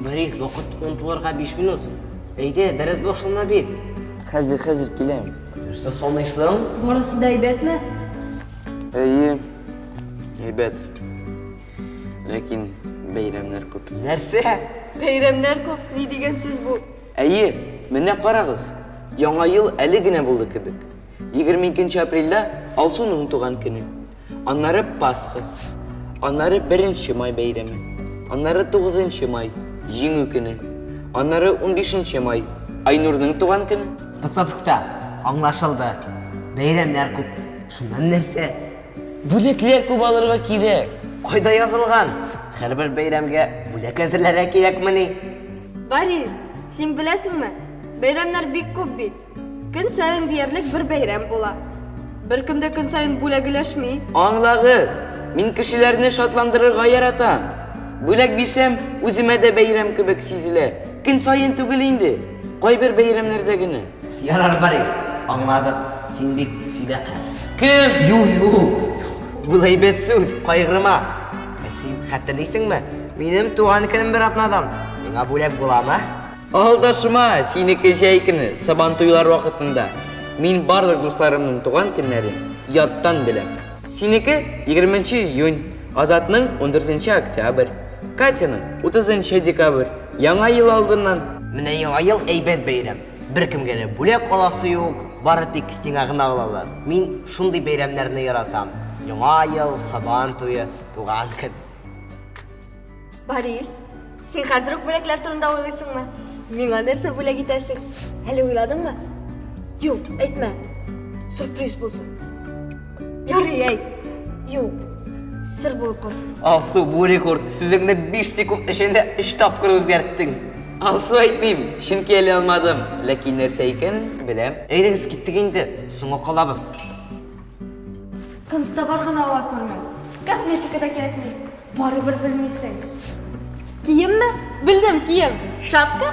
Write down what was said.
Борис, вакыт 10 туларга 5 минут. Әйдә, дәрес башлана бит. Хәзер, хәзер киләм. Нәрсә саныйсың? Барысы да әйбәтме? Әйе, әйбәт. Ләкин бәйрәмнәр күп. Нәрсә? Бәйрәмнәр күп, ни дигән сүз бу? Әйе, менә карагыз, Яңа ел әле генә булды кебек. 22 нче апрельдә Алсуның туган көне. Аннары Пасха. Аннары Беренче май бәйрәме. Аннары Тугызынчы май, Җиңү көне. Аннары унбишенче май, Айнурның туган көне. Тукта, тукта, аңлашылды. Бәйрәмнәр күп. Шуннан нәрсә? Бүләкләр күп алырга кирәк. Кайда язылган? Һәрбер бәйрәмгә бүләк әзерләргә кирәкмени? Борис, син беләсеңме? Бәйрәмнәр бик күп бит. Көн саен диярлек бер бәйрәм була. Беркем дә көн саен бүләгеләшми. Аңлагыз, мин кешеләрне шатландырырга яратам. Бүләк бирсәм, үземә дә бәйрәм кебек сизелә. Көн саен түгел инде, кайбер бәйрәмнәрдә генә. Ярар, Борис, аңладык, син бик фидакарь. Кем? Ю-ю, ул әйбәт сүз, кайгырма. Ә син хәтерлисеңме? Минем туган көнем бер атнадан. Миңа бүләк буламы? Алдашма, синеке җәй көне, сабан туйлар вакытында. Мин барлык дусларымның туган көннәрен яттан беләм. Синеке 20 июнь, Азатның 14 октябрь, Катяның 30 декабрь. Яңа ел алдыннан. Менә яңа ел әйбәт бәйрәм. Беркемгә дә бүләк аласы юк, бары тик сиңа гына алалар. Мин шундый бәйрәмнәрне яратам. Яңа ел, Сабан туе, Туган көн. Борис, син хәзер үк бүләкләр турында уйлыйсыңмы? Миңа нәрсә бүләк итәсең? Әле уйладыңмы? Юк, әйтмә. Сюрприз булсын. Ярый, әй. Юк, сер булып калсын. Алсу, бу рекорд. Сүзеңне 5 секунд эчендә 3 тапкыр үзгәрттең. Алсу әйтмим, чөнки әле алмадым. Ләкин нәрсә икән, беләм. Әйдәгез, киттек инде. Соңга калабыз. Констабар гына ала күрмә. Косметика да кирәкми. Барыбер белмисең. Киемме? Белдем, кием. Шапка?